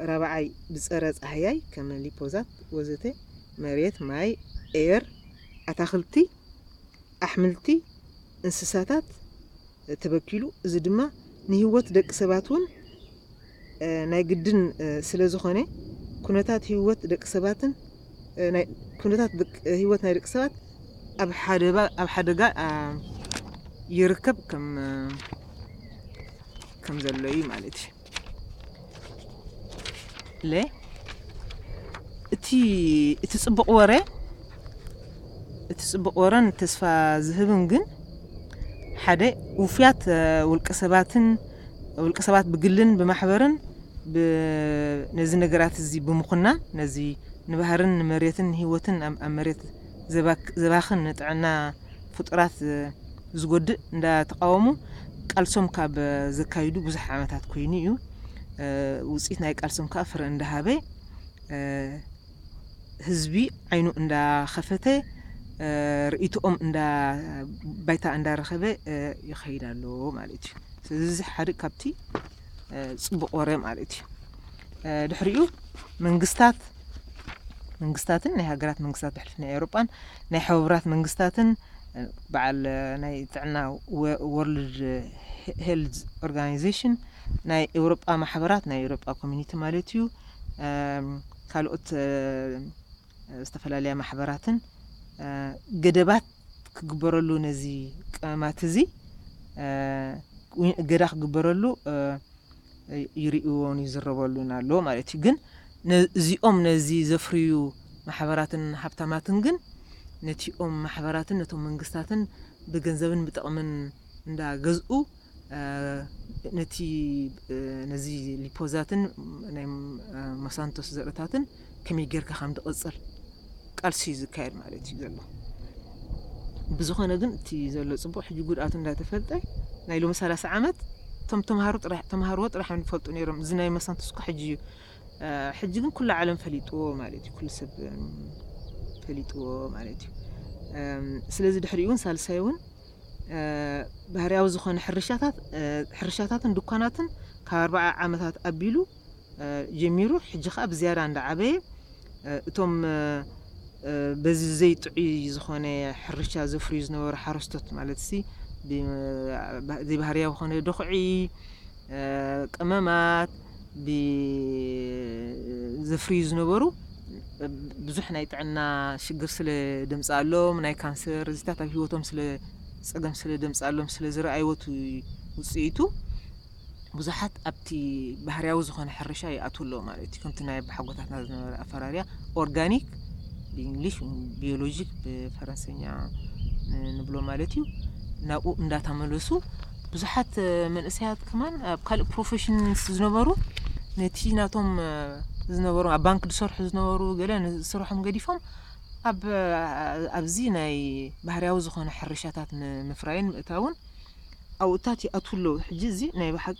ራብዓይ ብፀረ ፃህያይ ከም ሊፖዛት ወዘተ መሬት ማይ ኤየር ኣታክልቲ ኣሕምልቲ፣ እንስሳታት ተበኪሉ እዚ ድማ ንህይወት ደቂ ሰባት እውን ናይ ግድን ስለዝኾነ ኩነታት ህይወት ደቂ ሰባትን ኩነታት ህይወት ናይ ደቂ ሰባት ኣብ ሓደጋ ይርከብ ከም ዘሎ እዩ ማለት እዩ። ለ እቲ እቲ ጽቡቕ ወረ እቲ ጽቡቕ ወረን ተስፋ ዝህብን ግን ሓደ ውፍያት ውልቀ ሰባትን ውልቀ ሰባት ብግልን ብማሕበርን ነዚ ነገራት እዚ ብምኹና ነዚ ንባህርን ንመሬትን ንህይወትን ኣብ መሬት ዘባኽን ንጥዕና ፍጡራት ዝጎድእ እንዳተቓወሙ ቃልሶም ካብ ዘካይዱ ብዙሕ ዓመታት ኮይኑ እዩ። ውፅኢት ናይ ቃልሶም ከዓ ፍረ እንዳሃበ ህዝቢ ዓይኑ እንዳኸፈተ ርእይቶኦም እንዳ ባይታ እንዳረኸበ ይኸይድ ኣሎ ማለት እዩ። ስለዚ እዚ ሓደ ካብቲ ፅቡቕ ወረ ማለት እዩ ድሕሪኡ መንግስታት መንግስታትን ናይ ሃገራት መንግስታት ብሕልፊ ናይ ኤውሮጳን ናይ ሕቡራት መንግስታትን በዓል ናይ ጥዕና ወርልድ ሄልዝ ኦርጋናይዜሽን ናይ ኤውሮጳ ማሕበራት ናይ ኤውሮጳ ኮሚኒቲ ማለት እዩ ካልኦት ዝተፈላለያ ማሕበራትን ገደባት ክግበረሉ ነዚ ቀመማት እዚ እገዳ ክግበረሉ ይርእዎን ይዝረበሉን ኣሎ ማለት እዩ ግን እዚኦም ነዚ ዘፍርዩ ማሕበራትን ሃብታማትን ግን ነቲኦም ማሕበራትን ነቶም መንግስታትን ብገንዘብን ብጥቕምን እንዳገዝኡ ነቲ ነዚ ሊፖዛትን ናይ ማሳንቶስ ዘርእታትን ከመይ ጌርካ ከም ድቕጽል ቃልሲ እዩ ዝካየድ ማለት እዩ ዘሎ ብዝኾነ ግን እቲ ዘሎ ጽቡቕ ሕጂ ጉድኣቱ እንዳተፈልጠ ናይ ሎሚ ሰላሳ ዓመት እቶም ተምሃሮ ጥራሕ ተምሃርዎ ጥራሕ እዮም ዝፈልጡ ነይሮም እዚ ናይ ማሳንቶስ እኳ ሕጂ እዩ ሕጂ ግን ኩሉ ዓለም ፈሊጥዎ ማለት እዩ ኩሉ ሰብ ፈሊጥዎ ማለት እዩ ስለዚ ድሕሪኡ እውን ሳልሳይ እውን ባህርያዊ ዝኾነ ሕርሻታት ሕርሻታትን ድኳናትን ካብ ኣርባዓ ዓመታት ኣቢሉ ጀሚሩ ሕጂ ከኣ ብዝያዳ እንዳዓበየ እቶም በዚ ዘይጥዑይ ዝኾነ ሕርሻ ዘፍርዩ ዝነበሩ ሓረስቶት ማለት ሲ ዘይባህርያዊ ኾነ ዶኽዒ ቅመማት ዘፍርዩ ዝነበሩ ብዙሕ ናይ ጥዕና ሽግር ስለ ደምጽኣሎም ናይ ካንሰር እዚታት ኣብ ሂወቶም ስለ ጸገም ስለ ደምጽኣሎም ስለ ዝረኣይዎት ውጽኢቱ ብዙሓት ኣብቲ ባህርያዊ ዝኾነ ሕርሻ ይኣትዉ ኣለዉ ማለት እዩ። ከምቲ ናይ ኣቦሓጎታትና ዝነበረ ኣፈራርያ ኦርጋኒክ ብእንግሊሽ ቢዮሎጂክ ብፈረንሰኛ ንብሎ ማለት እዩ ናብኡ እንዳተመለሱ ብዙሓት መንእሰያት ከማን ኣብ ካልእ ፕሮፈሽንስ ዝነበሩ ነቲ ናቶም ዝነበሩ ኣብ ባንክ ዝሰርሑ ዝነበሩ ገለ ንስርሖም ገዲፎም ኣብ ኣብዚ ናይ ባህርያዊ ዝኾነ ሕርሻታት ንምፍራይን ምእታውን ዓውታት ይኣትዉ ኣለዉ። ሕጂ እዚ ናይ ብሓቂ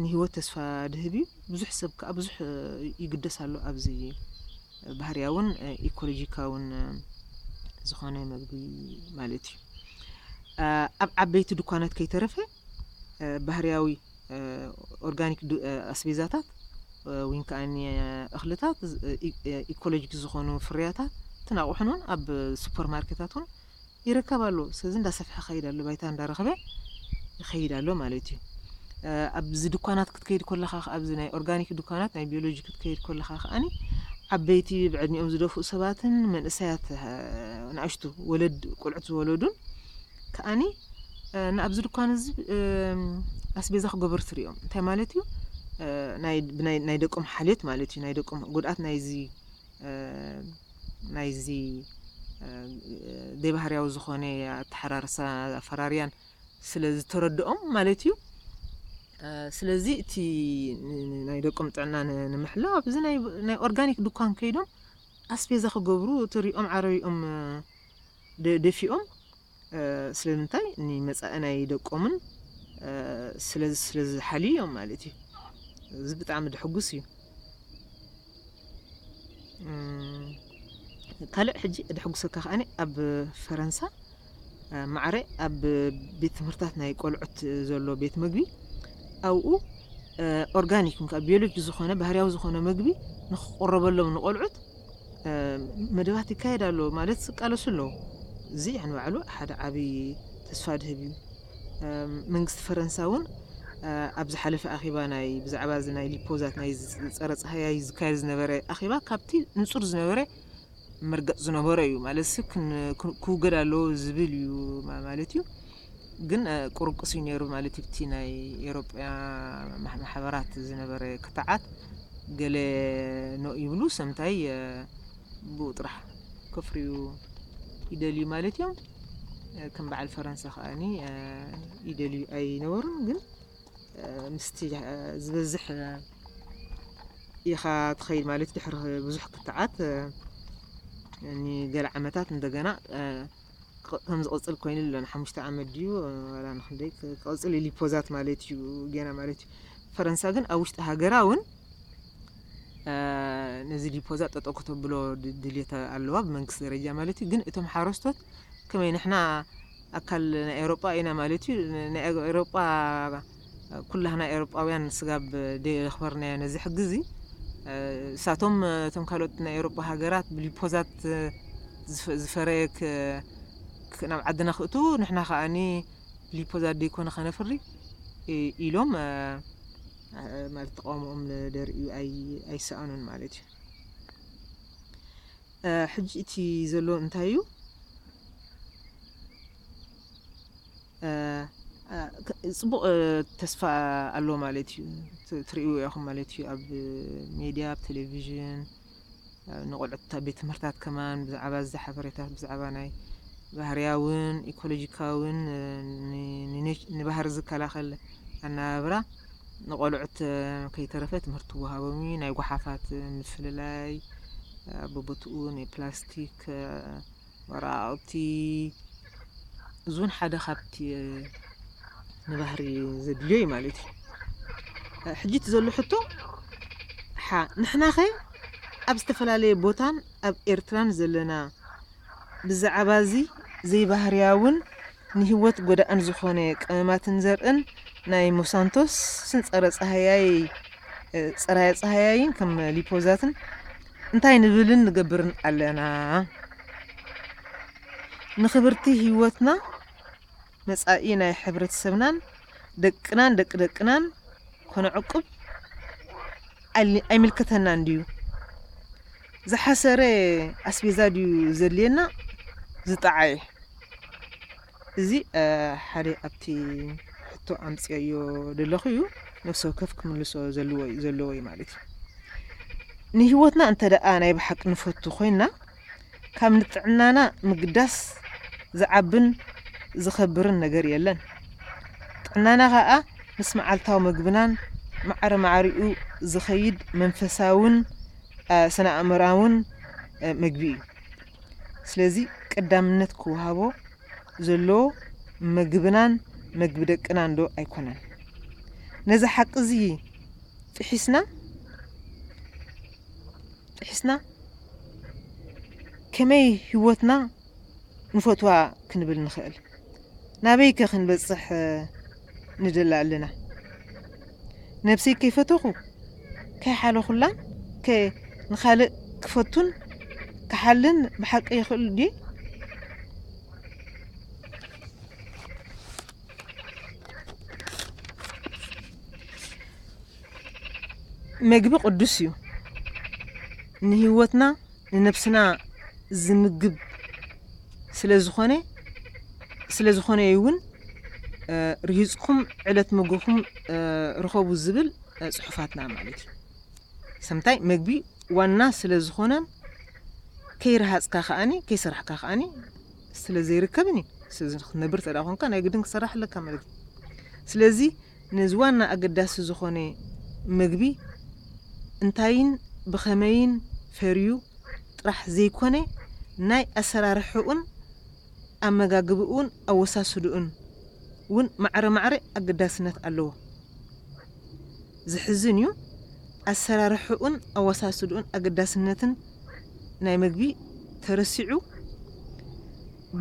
ንህይወት ተስፋ ድህብ እዩ። ብዙሕ ሰብ ከኣ ብዙሕ ይግደስ ኣሎ ኣብዚ ባህርያውን ኢኮሎጂካውን ዝኾነ መግቢ ማለት እዩ። ኣብ ዓበይቲ ድኳናት ከይተረፈ ባህርያዊ ኦርጋኒክ ኣስቤዛታት ወይን ከኣኒ እኽልታት ኢኮሎጂክ ዝኾኑ ፍርያታት እትን ኣቑሑን እውን ኣብ ሱፐር ማርኬታት እውን ይረከብ ኣሎ ስለዚ እንዳሰፍሐ ከይድ ኣሎ ባይታ እንዳረኽበ ይኸይድ ኣሎ ማለት እዩ ኣብዚ ድኳናት ክትከይድ ኮለኻ ከኣ ኣብዚ ናይ ኦርጋኒክ ዱካናት ናይ ቢዮሎጂ ክትከይድ ኮለኻ ከኣ ዓበይቲ ብዕድሚኦም ዝደፍኡ ሰባትን መንእሰያት ንኣሽቱ ወለድ ቆልዑት ዝወለዱን ከኣ ንኣብዚ ዱካን እዚ ኣስቤዛ ክገብሩ ትሪኦም እንታይ ማለት እዩ ናይ ደቆም ሓልዮት ማለት እዩ ናይ ደቆም ጉድኣት ናይዚ ናይዚ ዘይባህርያዊ ዝኾነ ኣተሓራርሳ ኣፈራርያን ስለ ዝተረድኦም ማለት እዩ። ስለዚ እቲ ናይ ደቆም ጥዕና ንምሕላው ኣብዚ ናይ ኦርጋኒክ ድኳን ከይዶም ኣስፔዛ ክገብሩ ትሪኦም ዓረቢኦም ደፊኦም ስለምንታይ ንመፃኢ ናይ ደቆምን ስለዚ ስለዝሓልዩ እዮም ማለት እዩ እዚ ብጣዕሚ ደሕጉስ እዩ ካልእ ሕጂ ደሕጉሰካ ከኣኒ ኣብ ፈረንሳ ማዕረ ኣብ ቤት ትምህርታት ናይ ቆልዑት ዘሎ ቤት መግቢ ኣብኡ ኦርጋኒክ ም ቢዮሎጂ ዝኾነ ባህርያዊ ዝኾነ መግቢ ንክቆረበሎም ንቆልዑት መደባት ይካየድ ኣሎ ማለት ዝቃለሱ ኣለዉ እዚ ንባዕሉ ሓደ ዓብዪ ተስፋ ድህብ እዩ መንግስቲ ፈረንሳ እውን ኣብ ዝሓለፈ ኣኼባ ናይ ብዛዕባ እዚ ናይ ሊፖዛት ናይ ጸረ ጸሃያይ ዝካየድ ዝነበረ ኣኼባ ካብቲ ንጹር ዝነበረ መርገጽ ዝነበሮ እዩ ማለትሲ ክውገድ ኣለዎ ዝብል እዩ ማለት እዩ ግን ቁርቅስ እዩ ነይሩ ማለት እዩ እቲ ናይ ኤሮጳያ ማሕበራት ዝነበረ ክትዓት ገለ ነው ይብሉ ሰምታይ ብኡ ጥራሕ ከፍርዩ ይደልዩ ማለት እዮም ከም በዓል ፈረንሳ ከኣኒ ይደልዩ ኣይነበሩን ግን ምስቲ ዝበዝሕ ኢኻ ትኸይድ ማለት ድሕሪ ብዙሕ ክትዓት ንገለ ዓመታት እንደገና ከም ዝቕፅል ኮይኑ ኣሎ ንሓሙሽተ ዓመት ድዩ ዋላ ንክንደይ ክቕፅል ኢሉ ፖዛት ማለት እዩ ገና ማለት እዩ ፈረንሳ ግን ኣብ ውሽጢ ሃገራ እውን ነዚ ዲፖዛ ጠጠው ከተብሎ ድልየት ኣለዋ ብመንግስቲ ደረጃ ማለት እዩ ግን እቶም ሓረስቶት ከመይ ንሕና ኣካል ናይ ኤሮጳ ኢና ማለት እዩ ናይ ኤሮጳ ኩላህና ኤሮጳውያን ስጋብ ደየኽበርናዮ ነዚ ሕጊ እዚ እሳቶም እቶም ካልኦት ናይ ኤሮጳ ሃገራት ብሊፖዛት ዝፈረየ ናብ ዓድና ክእት ንሕና ከዓኒ ሊፖዛት ደይኮነ ከነፍሪ ኢሎም ማለት ተቃውሞኦም ደርእዩ ኣይሰኣኑን ማለት እዩ ሕጂ እቲ ዘሎ እንታይ እዩ ፅቡቅ ተስፋ ኣሎ ማለት እዩ ትርእይዎ ኢኹም ማለት እዩ ኣብ ሜድያ ኣብ ቴሌቭዥን ንቆልዑት ኣብ ቤት ትምህርታት ከማን ብዛዕባ እዚ ሓበሬታት ብዛዕባ ናይ ባህርያውን ኢኮሎጂካውን ንባህሪ ዝከላኸል ኣነባብራ ንቆልዑት ከይተረፈ ትምህርቲ ይወሃቦም እዩ። ናይ ጓሓፋት ምፍልላይ ኣቦቦትኡ ናይ ፕላስቲክ ወራዕብቲ እዝውን ሓደ ካብቲ ንባህሪ ዘድልዮ እዩ ማለት እዩ ሕጂ እቲ ዘሎ ሕቶ ሓ ንሕናኸ ኣብ ዝተፈላለየ ቦታን ኣብ ኤርትራን ዘለና ብዛዕባ እዚ ዘይባህርያውን ንህይወት ጎዳእን ዝኾነ ቀመማትን ዘርእን ናይ ሞሳንቶስን ጸረ ጸሃያይ ጸራየ ጸሃያይን ከም ሊፖዛትን እንታይ ንብልን ንገብርን ኣለና? ንክብርቲ ህይወትና፣ መጻኢ ናይ ሕብረተሰብናን ደቅናን ደቂ ደቅናን ከነዕቁብ ኣይምልከተናን ድዩ? ዝሓሰረ ኣስቤዛ ድዩ ዘድልየና ዝጠዓየ? እዚ ሓደ ኣብቲ ሕቶ ኣምጺኦዮ ደለኹ እዩ ነፍሲ ወከፍ ክምልሶ ዘልዎ ዘለዎ እዩ ማለት እዩ። ንህይወትና እንተደኣ ናይ ብሓቂ ንፈቱ ኮይና ካብ ንጥዕናና ምግዳስ ዝዓብን ዝኸብርን ነገር የለን። ጥዕናና ከኣ ምስ መዓልታዊ መግብናን ማዕረ ማዕሪኡ ዝኸይድ መንፈሳውን ስነ ኣእምራውን መግቢ እዩ። ስለዚ ቀዳምነት ክወሃቦ ዘለዎ መግብናን መግቢ ደቅናን ዶ ኣይኮነን? ነዚ ሓቂ እዚ ጥሒስና ጥሒስና ከመይ ህይወትና ንፈትዋ ክንብል ንኽእል? ናበይ ከ ክንበጽሕ ንደሊ ኣለና ነብሰይ ከይፈተኹ ከይሓለኹላን ከ ንኻልእ ክፈቱን ክሓልን ብሓቂ ይኽእል ድየ? መግቢ ቅዱስ እዩ ንህይወትና ንነብስና ዝምግብ ስለዝኾነ ስለዝኾነ እዩ እውን ርሂፅኩም ዕለት ምግብኹም ርኸቡ ዝብል ፅሑፋትና ማለት እዩ። ሰምታይ መግቢ ዋና ስለዝኾነን ከይረሃፅካ ከዓኒ ከይሰራሕካ ከዓኒ ስለዘይርከብን እዩ። ስለዚ ክትነብር ተደኣ ኮንካ ናይ ግድን ክትሰራሕ ኣለካ ማለት እዩ። ስለዚ ነዚ ዋና ኣገዳሲ ዝኾነ መግቢ እንታይን ብኸመይን ፈርዩ ጥራሕ ዘይኮነ ናይ ኣሰራርሕኡን ኣመጋግብኡን ኣወሳስድኡን ውን ማዕረ ማዕረ ኣገዳስነት ኣለዎ። ዘሕዝን ዩ ኣሰራርሕኡን ኣወሳስድኡን ኣገዳስነትን ናይ መግቢ ተረሲዑ፣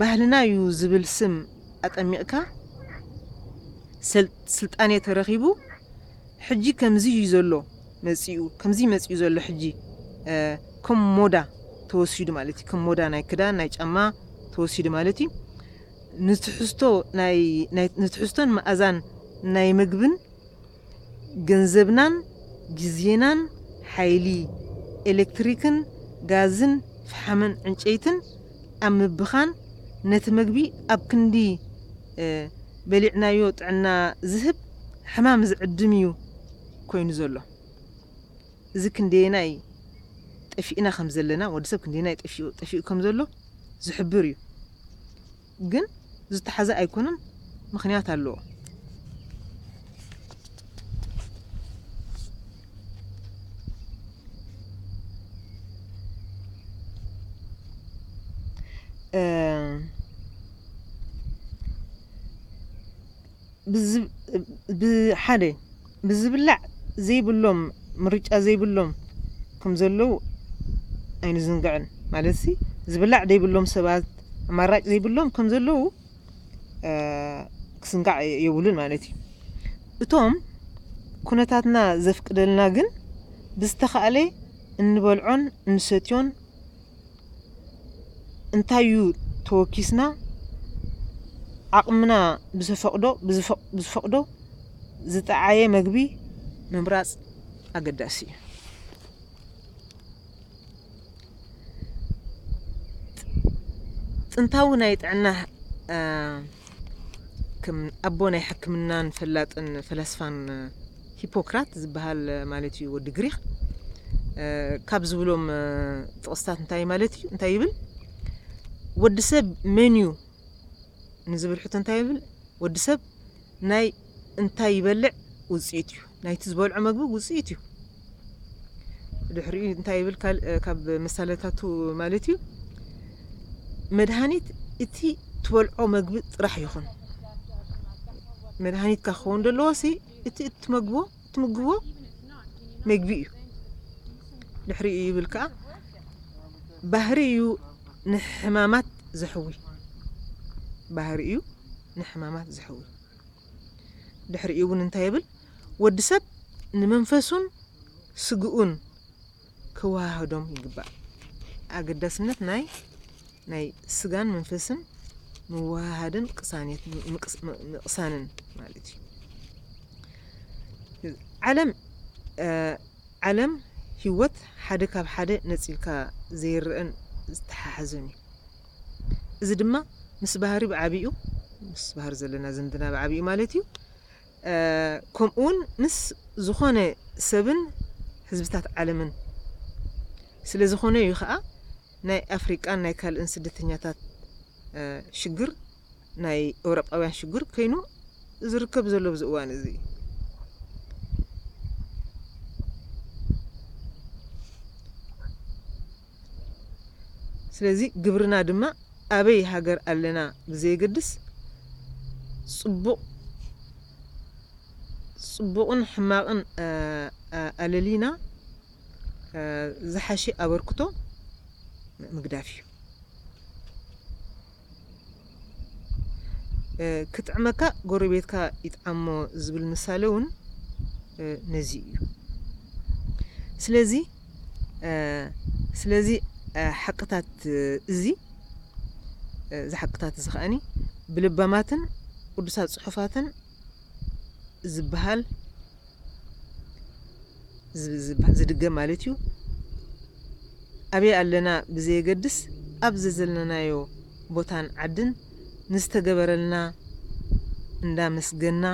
ባህልና ዩ ዝብል ስም ኣጠሚቅካ ስልጣኔ ተረኪቡ ሕጂ ከምዚ ዩ ዘሎ መጺኡ ከምዚ መጺኡ ዘሎ ሕጂ ከም ሞዳ ተወሲዱ ማለት ዩ ከም ሞዳ ናይ ክዳን ናይ ጫማ ተወሲዱ ማለት ዩ ንትሕዝቶ ናይ ንትሕዝቶን መኣዛን ናይ ምግብን ገንዘብናን ግዜናን ሓይሊ ኤለክትሪክን ጋዝን ፍሓምን ዕንጨይትን ኣብ ምብኻን ነቲ መግቢ ኣብ ክንዲ በሊዕናዮ ጥዕና ዝህብ ሕማም ዝዕድም እዩ ኮይኑ ዘሎ። እዚ ክንደየናይ ጠፊእና ከምዘለና ወዲ ሰብ ክንደየናይ ጠፊኡ ጠፊኡ ከምዘሎ ዝሕብር እዩ። ግን ዝተሓዘ ኣይኮነን ምክንያት ኣለዎ። ሓደ ብዝብላዕ ዘይብሎም ምርጫ ዘይብሎም ከም ዘለዉ ኣይንዝንግዕን ማለትሲ ዝብላዕ ዘይብሎም ሰባት ኣማራጭ ዘይብሎም ከም ዘለዉ ክስንጋዕ የብሉን ማለት እዩ እቶም ኩነታትና ዘፍቅደልና ግን ብዝተኻእለ እንበልዖን እንሰትዮን እንታይ እዩ ተወኪስና ዓቕምና ብዘፈቕዶ ብዝፈቕዶ ዝጠዓየ መግቢ ምምራፅ ኣገዳሲ እዩ። ጥንታዊ ናይ ጥዕና ከም ኣቦ ናይ ሕክምናን ፈላጥን ፈላስፋን ሂፖክራት ዝበሃል ማለት እዩ ወዲ ግሪኽ ካብ ዝብሎም ጥቕስታት እንታይ ማለት እዩ እንታይ ይብል ወዲ ሰብ መን እዩ ንዝብል ሕቶ እንታይ ይብል ወዲ ሰብ ናይ እንታይ ይበልዕ ውፅኢት እዩ ናይቲ ዝበልዖ መግቢ ውፅኢት እዩ ድሕሪኡ እንታይ ይብል ካልእ ካብ ምሳለታቱ ማለት እዩ መድሃኒት እቲ ትበልዖ መግቢ ጥራሕ ይኹን መድሃኒትካ ክኸውን ዘለዎ ሲ እቲ እትመግቦ እትምግቦ መግቢ እዩ ድሕሪኡ ይብል ከዓ ባህሪ እዩ ንሕማማት ዘሕዊ ባህሪ እዩ ንሕማማት ዘሕዊ ድሕሪኡ እውን እንታይ ይብል? ወዲ ሰብ ንመንፈሱን ስግኡን ከወሃህዶም ይግባእ። ኣገዳስነት ናይ ናይ ስጋን መንፈስን ምውሃሃድን ቅሳኔት ምቕሳንን ማለት እዩ። ዓለም ዓለም ህይወት ሓደ ካብ ሓደ ነፂልካ ዘይረአን ዝተሓሓዘን እዩ። እዚ ድማ ምስ ባህሪ ብዓቢኡ፣ ምስ ባህሪ ዘለና ዝምድና ብዓቢኡ ማለት እዩ፣ ከምኡውን ምስ ዝኾነ ሰብን ህዝብታት ዓለምን ስለ ዝኾነ እዩ ከኣ ናይ ኣፍሪቃን ናይ ካልእን ስደተኛታት ሽግር ናይ ኤውሮጳውያን ሽግር ከይኑ ዝርከብ ዘሎ ኣብዚ እዋን እዚ እዩ። ስለዚ ግብርና ድማ ኣበይ ሃገር ኣለና ብዘየገድስ ጽቡቕ ጽቡቕን ሕማቕን ኣለሊና ዝሓሸ ኣበርክቶ ምግዳፍ እዩ። ክጥዕመካ ጎረቤትካ ይጥዓሞ ዝብል ምሳሌ ውን ነዚ እዩ። ስለዚ ስለዚ ሓቅታት እዚ እዚ ሓቅታት እዚ ከኣኒ ብለባማትን ቅዱሳት ጽሑፋትን ዝበሃል ዝብሃል ዝድገም ማለት እዩ። ኣበይ ኣለና ብዘየገድስ ኣብ ዘዘለናዮ ቦታን ዓድን ንዝተገበረልና እንዳመስገንና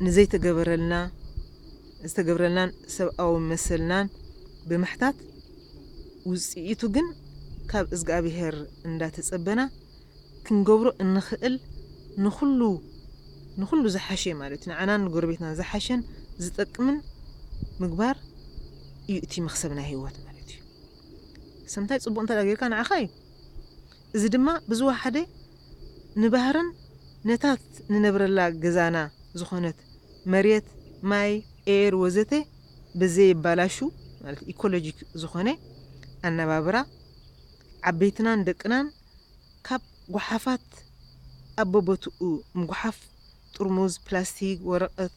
ንዘይተገበረልና ዝተገብረልናን ሰብኣዊ መሰልናን ብምሕታት ውጽኢቱ ግን ካብ እዝግኣብሄር እንዳተጸበና ክንገብሮ እንኽእል ንኹሉ ንኹሉ ዝሓሸ ማለት እዩ ንዓናን ንጎረቤትናን ዝሓሸን ዝጠቅምን ምግባር እዩ እቲ መኽሰብ ናይ ህይወት ማለት እዩ። ሰብ እንታይ ጽቡቕ እንተ ጌርካ ንዓኻ እዩ። እዚ ድማ ብዝወሓደ ንባህርን ነታት ንነብረላ ገዛና ዝኾነት መሬት፣ ማይ፣ ኤየር ወዘተ ብዘየባላሹ ማለት ኢኮሎጂክ ዝኾነ ኣነባብራ ዓበይትናን ደቅናን ካብ ጓሓፋት ኣብ በቦትኡ ምጉሓፍ፣ ጥርሙዝ፣ ፕላስቲግ፣ ወረቐት፣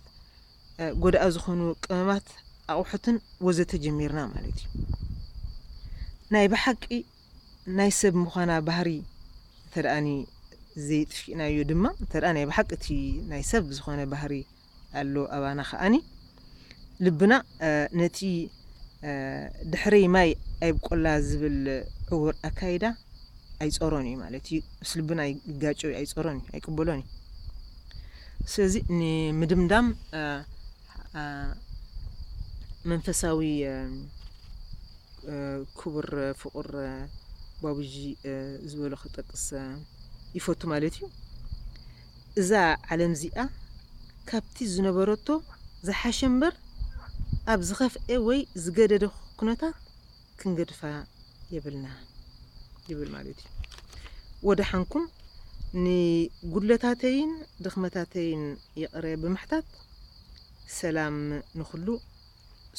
ጎዳኢ ዝኾኑ ቅመማት፣ ኣቑሑትን ወዘተ ጀሚርና ማለት እዩ። ናይ ብሓቂ ናይ ሰብ ምዃና ባህሪ እንተድኣ ዘይጥፊእናዮ ድማ፣ እንተድኣ ናይ ብሓቂ እቲ ናይ ሰብ ዝኾነ ባህሪ፣ ኣሎ ኣባና ከኣኒ ልብና ነቲ ድሕሪ ማይ ኣይብቆላ ዝብል ዕውር ኣካይዳ ኣይጾሮን እዩ ማለት እዩ ምስ ልብና ይጋጮ እዩ ኣይጾሮን እዩ ኣይቅበሎን እዩ ስለዚ ንምድምዳም መንፈሳዊ ክቡር ፍቁር ባቡጂ ዝበሎ ክጠቅስ ይፈቱ ማለት እዩ እዛ ዓለም'ዚኣ ካብቲ ዝነበረቶ ዝሓሸ'ምበር ኣብ ዝኸፍኤ ወይ ዝገደደ ኩነታት ክንገድፋ የብልናን ይብል ማለት'ዩ። ወደሓንኩም ንጉድለታተይን ድኽመታተይን ይቕረ ብምሕታት ሰላም ንኹሉ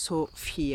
ሶፍያ።